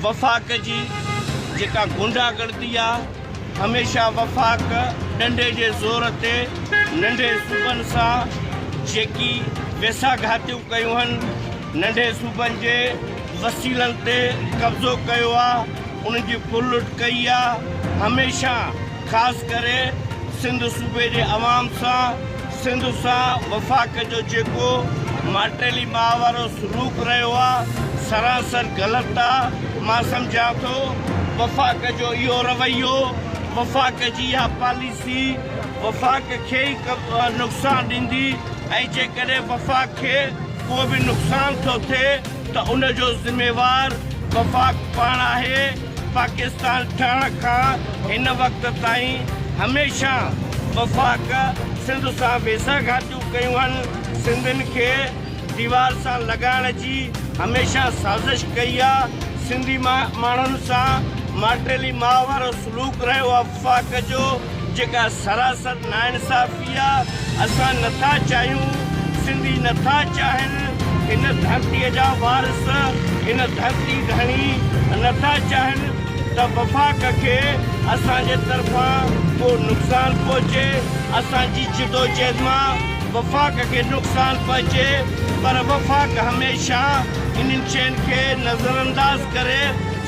وفاق جي جيڪا غنڊا گردي آ هميشه وفاق ڏنڊي جي زور تي ننڍي صوبن سان جيڪي ويسا گهاتيون ڪيون هن ننڍي صوبن جي وسيلن تي قبضو ڪيو آ ان جي ڦرلٽ ڪئي آ هميشه خاص ڪري سنڌ صوبي جي عوام سان سنڌ سان وفاق جو جيڪو ماٽيلي ماء وارو سلوڪ رهيو آ سراسر غلط آ مان سمجهان ٿو وفاق جو اهو رويو وفاق جي اها پاليسي وفاق کي ئي نقصان ڏيندي ۽ جيڪڏهن وفاق کي ڪو به نقصان ٿو ٿئي ته ان جو ذميوار وفاق پاڻ آهي. پاڪستان ٺهڻ کان هن وقت تائين هميشه وفاق سنڌ سان ويساهه گهاتيون ڪيون آهن، سنڌين کي ديوار سان لڳائڻ جي هميشه سازش ڪئي آهي، سنڌي ماڻهن سان ماٽيلي ماء وارو سلوڪ رهيو آهي. وفاق جو جيڪا سراسر ناانصافي آ اسان نٿا چاهيون سنڌي نٿا چاهن هن ڌرتي جا وارث هن ڌرتي ڌڻي نٿا چاهن ته وفاق کي اسان جي طرفان ڪو نقصان پهچي اسان جي جدوجهد مان وفاق کي نقصان پهچي پر وفاق هميشه انهن شين کي نظرانداز ڪري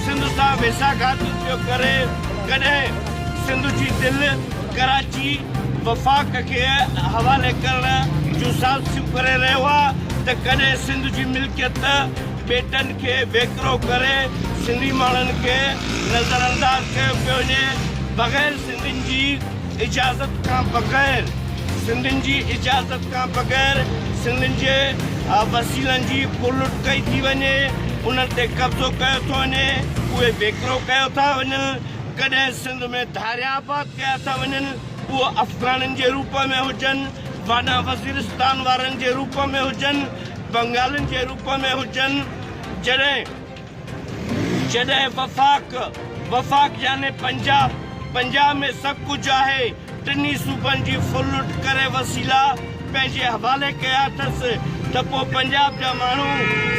سنڌ سان ويساهگهاتي پيو ڪري. ڪڏهن سنڌ جي دل ڪراچي وفاق کي حوالي ڪرڻ جون سازشون ڪري رهيو آ ته ڪڏهن سنڌ جي ملڪيت ٻيٽن کي ويڪرو ڪري سنڌي ماڻهن کي نظرانداز ڪيو پيو وڃي بغير سنڌين جي اجازت کان بغير سنڌين جي اجازت کان بغير سنڌين جي وسيلن جي ڦرلٽ ڪئي ٿي وڃي انهن تي قبضو ڪيو ٿو وڃي اهي ويڪرو ڪيو ٿا وڃن ڪڏهن سنڌ ۾ ڌاريا آباد ڪيا ٿا وڃن اهو افغانن جي روپ ۾ هجن وانا وزيرستان وارن جي روپ ۾ هجن بنگالين جي روپ ۾ هجن جڏهن جڏهن وفاق، وفاق يعني پنجاب، پنجاب ۾ سڀ ڪجهه آهي، ٽنهي صوبن جي ڦر لٽ ڪري وسيلا پنهنجي حوالي ڪيا اٿس ته پوء پنجاب جا ماڻهو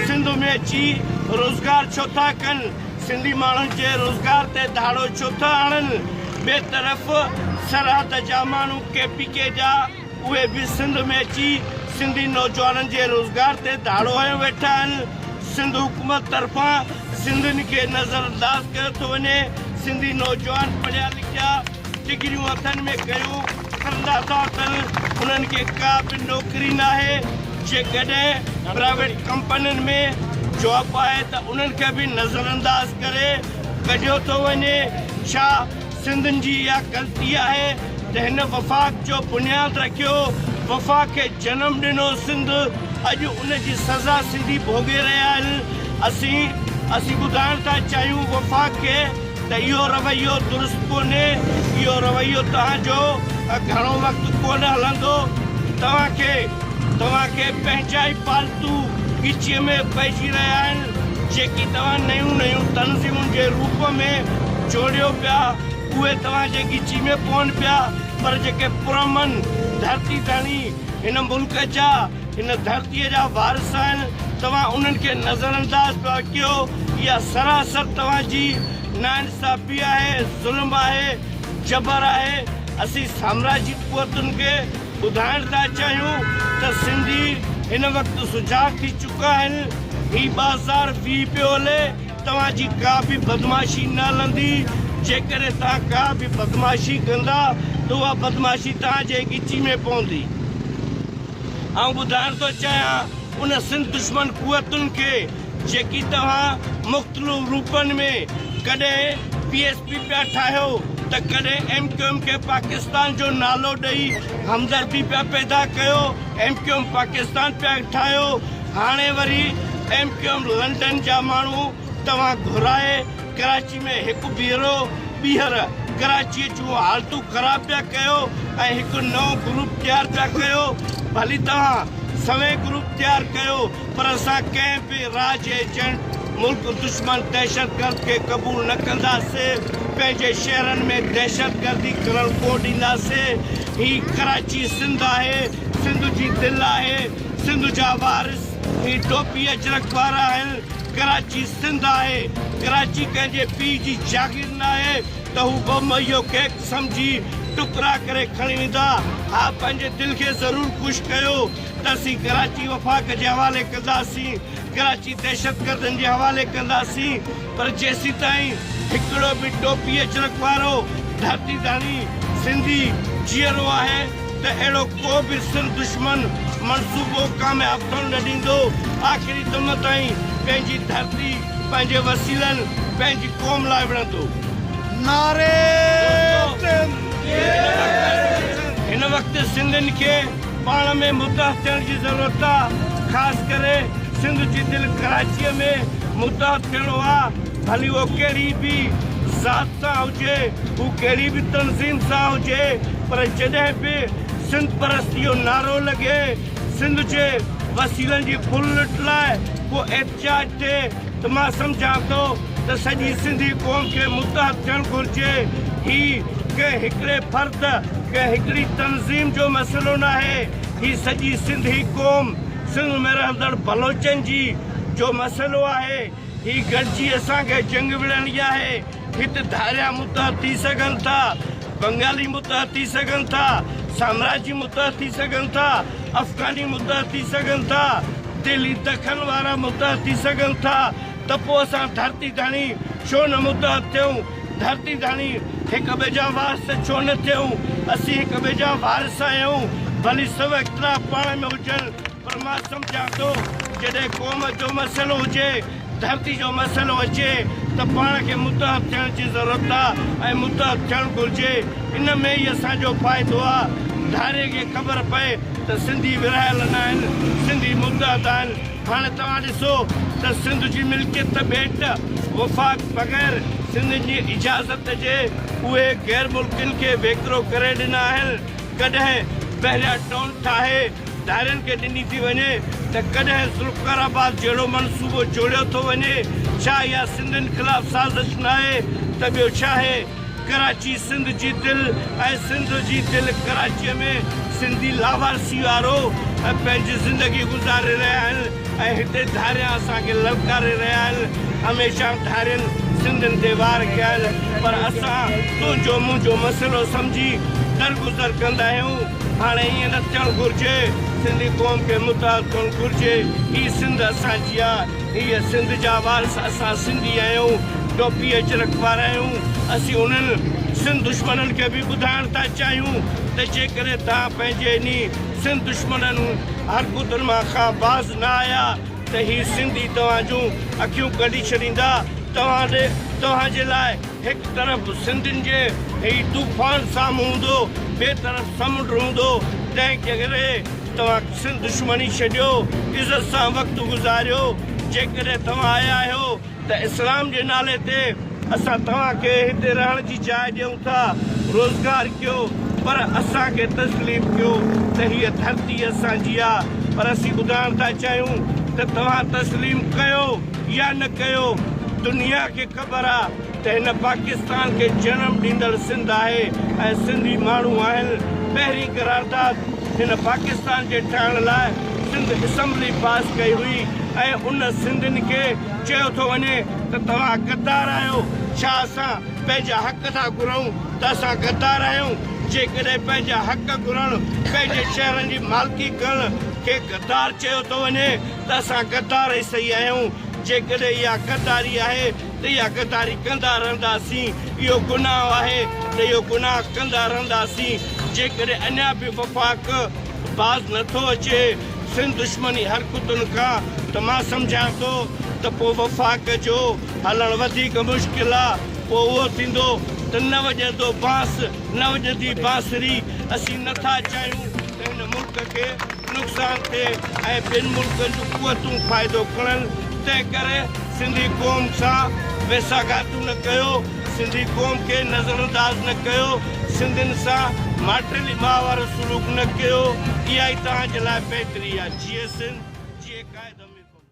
سنڌ ۾ اچي روزگار ڇو ٿا ڪن؟ سنڌي ماڻهن جي روزگار تي ڌاڙو ڇو ٿا هڻن؟ ٻئي طرف سرحد جا ماڻهو ڪي پي ڪي جا، اهي به سنڌ ۾ اچي سنڌي نوجوانن جي روزگار تي ڌاڙو هنيو ويٺا آهن، سنڌ حڪومت طرفان سنڌين کي نظر انداز ڪيو ٿو وڃي، سنڌي نوجوان پڙهيا لکيا، ڊگريون هٿن ۾ ڪيو ڦرندا ٿا اچن، انهن کي ڪا به نوڪري ناهي، جيڪڏهن پرائيويٽ ڪمپنين ۾ جاب آهي ته انهن کي به نظر انداز ڪري ڪڍيو ٿو وڃي، ڇا؟ سنڌين جي اها غلطي آهي ته هن وفاق جو بنياد رکيو، وفاق کي جنم ڏنو سنڌ اڄ ان جي سزا سنڌي ڀوڳي رهيا آهن، اسين اسين ٻڌائڻ ٿا چاهيون وفاق کي ته اهو رويو درست ڪونهي، اهو رويو توهان جو گهڻو وقت ڪونه هلندو، توهان کي توهان کي پنهنجا ئي پالتو ڳچيء ۾ پئجي رهيا آهن. جيڪي توهان نيون نيون تنظيمن جي روپ ۾ جوڙيو پيا، اهي توهان جي ڳچي ۾ پون پيا، پر جيڪي پرامن ڌرتي ڌڻي، هن ملڪ جا، هن ڌرتيء جا وارث آهن، توهان انهن کي نظرانداز پيا ڪيو، اها سراسر توهان جي ناانصافي آهي، ظلم آهي، جبر آهي، اسين سامراجي قوتن کي ٻڌائڻ ٿا چاهيون ته سنڌي هن وقت سجاڳ ٿي چڪا آهن، هي بازار ويهي پيو هلي، توهان جي ڪا به بدمعاشي نه هلندي، جيڪڏهن توهان ڪا به بدمعاشي ڪندا ته اها بدمعاشي توهان جي ڳچي ۾ پوندي. آئون ٻڌائڻ ٿو چاهيان ان سنڌ دشمن قوتن کي جيڪي توهان مختلف روپن ۾ ڪڏهن پي. به پيا ٺاهيو ته ڪڏهن ايم ڪيو ايم کي پاڪستان جو نالو ڏئي همدردي پيا پيدا ڪيو ايم ڪيو ايم پاڪستان پيا ٺاهيو هاڻي وري ايم ڪيو ايم لنڊن جا ماڻهو توهان گهرائي ڪراچي ۾ هڪ ڀيرو ٻيهر ڪراچي جون حالتون خراب پيا ڪيو ۽ هڪ نئون گروپ تيار پيا ڪيو ڀلي توهان سوين گروپ تيار ڪيو پر اسان ڪنهن به راء جي ايجنٽ، ملڪ دشمن دهشتگرد کي قبول نه ڪنداسين، پنهنجي شهرن ۾ دهشتگردي ڪرڻ ڪونه ڏينداسين، هي ڪراچي سنڌ آهي، سنڌ جي دل آهي، سنڌ جا وارث هي ٽوپي اجرڪ وارا آهن، ڪراچي سنڌ آهي، ڪراچي ڪنهن جي پيء جي جاگير ناهي ته هو ٻه مهيو ڪيڪ سمجهي ٽڪرا ڪري کڻي ويندا، ها پنهنجي دل کي ضرور خوش ڪيو. اسين ڪراچي وفاق جي حوالي ڪنداسين، ڪراچي دهشتگردن جي حوالي ڪنداسين پر جيسيتائين هڪڙو به ٽوپي اجرڪ وارو ڌرتي ڌڻي سنڌي جيئرو آهي ته اهڙو ڪو به سنڌ دشمن منصوبو ڪامياب ٿيڻ نه ڏيندو، آخري دم تائين پنهنجي ڌرتي پنهنجي وسيلن پنهنجي قوم لاء وڙهندو. نعري سنڌ! هن وقت سنڌين کي پاڻ ۾ متحد ٿيڻ جي ضرورت آ خاص ڪري سنڌ جي دل ڪراچيء ۾ متحد ٿيڻو آ ڀلي اهو ڪهڙي به ذات سان هجي هو ڪهڙي به تنظيم سان هجي پر جڏهن به سنڌ پرستي جو نعرو لڳي سنڌ جي وسيلن جي ڦرلٽ لاء ڪو چيٽ تي ته مان سمجهان ٿو ته سڄي سنڌي قوم کي متحد ٿيڻ گهرجي، هي ڪنهن هڪڙي فرد، ڪنهن هڪڙي تنظيم جو مسئلو ناهي، هي سڄي سنڌي قوم، سنڌ ۾ رهندڙ بلوچن جي جو مسئلو آهي، هي گڏجي اسان کي جنگ وڙهڻي آهي. هت ڌاريا متحد ٿي سگهن ٿا، بنگالي متحد ٿي سگهن ٿا، سامراجي متحد ٿي سگهن ٿا، افغاني متحد ٿي سگهن ٿا، دهلي دکن وارا متحد ٿي سگهن ٿا ته پوء اسان ڌرتي ڌڻي ڇو نه متحد ٿيون؟ ڌرتي ڌڻي هڪ ٻئي جا وارث ڇو نه ٿيون؟ اسين هڪ ٻئي جا وارث آهيون، ڀلي سڀ اختلاف پاڻ ۾ هجن. پر مان سمجهان ٿو جڏهن قوم جو مسئلو هجي، ڌرتي جو مسئلو اچي ته پاڻ کي متحد ٿيڻ جي ضرورت آ ۽ متحد ٿيڻ گهرجي. ان ۾ ئي اسان جو فائدو آ. ڌاري کي خبر پئي ته سنڌي ورهايل ناهن، سنڌي متحد آهن. هاڻي توهان ڏسو ته سنڌ جي ملڪيت ته ٻيٽ وفاق بغير سنڌين جي اجازت جي اهي غير ملڪين کي ويڪرو ڪري ڏنا آهن. ڪڏهن بحريا ٽون ٺاهي ڌارين کي ڏني ٿي وڃي ته ڪڏهن ذوالفقار آباد جهڙو منصوبو جوڙيو ٿو وڃي، ڇا اها سنڌين خلاف سازش ناهي ته ٻيو ڇاهي؟ ڪراچي سنڌ جي دل ۽ سنڌ جي دل ڪراچيء ۾ سنڌي لاوارثي وارو پنهنجي زندگي گذاري رهيا آهن ۽ هتي ڌاريان اسان کي للڪاري رهيا آهن، هميشه ڌارين سنڌين تي وار ڪيا آهن پر اسان تنهنجو منهنجو مسئلو سمجهي درگذر ڪندا آهيون. هاڻي ائين نه ٿيڻ گهرجي، سنڌي قوم کي متحد ٿيڻ گهرجي، هي سنڌ اسان جي آ، هيء سنڌ جا وارث اسان سنڌي آهيون، ٽوپي اجرڪ وارا آهيون، اسين انهن سنڌ دشمنن کي به ٻڌائڻ ٿا چاهيون ته جيڪڏهن توهان پنهنجي انهي سنڌ دشمنن حرڪتن مان کان باز نه آيا ته هي سنڌي توهان جون اکيون ڪڍي ڇڏيندا، توهان توهان جي لاء. هڪ طرف سنڌين جي هي طوفان سامهون هوندو ٻئي طرف سمنڊ هوندو تنهن ڪري توهان سنڌ دشمني ڇڏيو عزت سان وقت گذاريو جيڪڏهن توهان آيا آهيو ته اسلام جي نالي تي اسان توهان کي هتي رهڻ جي جاء ڏيون ٿا روزگار ڪيو پر اسان کي تسليم ڪيو ته هيء ڌرتي اسان جي آ پر اسين ٻڌائڻ ٿا چاهيون ته توهان تسليم ڪيو يا نه ڪيو دنيا کي پر آ ته هن پاڪستان کي جنم ڏيندڙ سنڌ آهي ۽ سنڌي ماڻهو آهن. پهرين قرارداد هن پاڪستان جي ٺهڻ لاء سنڌ اسمبلي پاس ڪئي هئي ۽ ان سنڌين کي چيو ٿو وڃي ته توهان غدار آهيو ڇا اسان پنهنجا حق ٿا گهرون ته اسان غدار آهيون جيڪڏهن پنهنجا حق گهرڻ پنهنجي شهرن جي مالڪي ڪرڻ کي غدار چيو ٿو وڃي ته اسان غدار ئي سهي آهيون، جيڪڏهن اها غداري آهي ته اها غداري ڪندا رهنداسين، اهو گناهه آهي ته اهو گناهه ڪندا رهنداسين، جيڪڏهن اڃا به وفاق باز نه ٿو اچي سنڌ دشمني حرڪتن کان ته مان سمجهان ٿو ته پوء وفاق جو هلڻ وڌيڪ مشڪل آ، پوء اهو ٿيندو ته نه وڄندو بانس نه وڄندي بانسري، اسين نه ٿا چاهيون ته هن ملڪ کي نقصان ٿئي ۽ ٻين ملڪن جون قوتون فائدو کڻن، تنهن ڪري سنڌي قوم سان ويساهگهاتون نه ڪيو، سنڌي قوم کي نظرانداز نه ڪيو، سنڌين سان ماٽيلي ماء وارو سلوڪ نه ڪيو، اها ئي توهان جي لاء بهتري آهي. جيئي سنڌ، جيئي قائد امير محمد.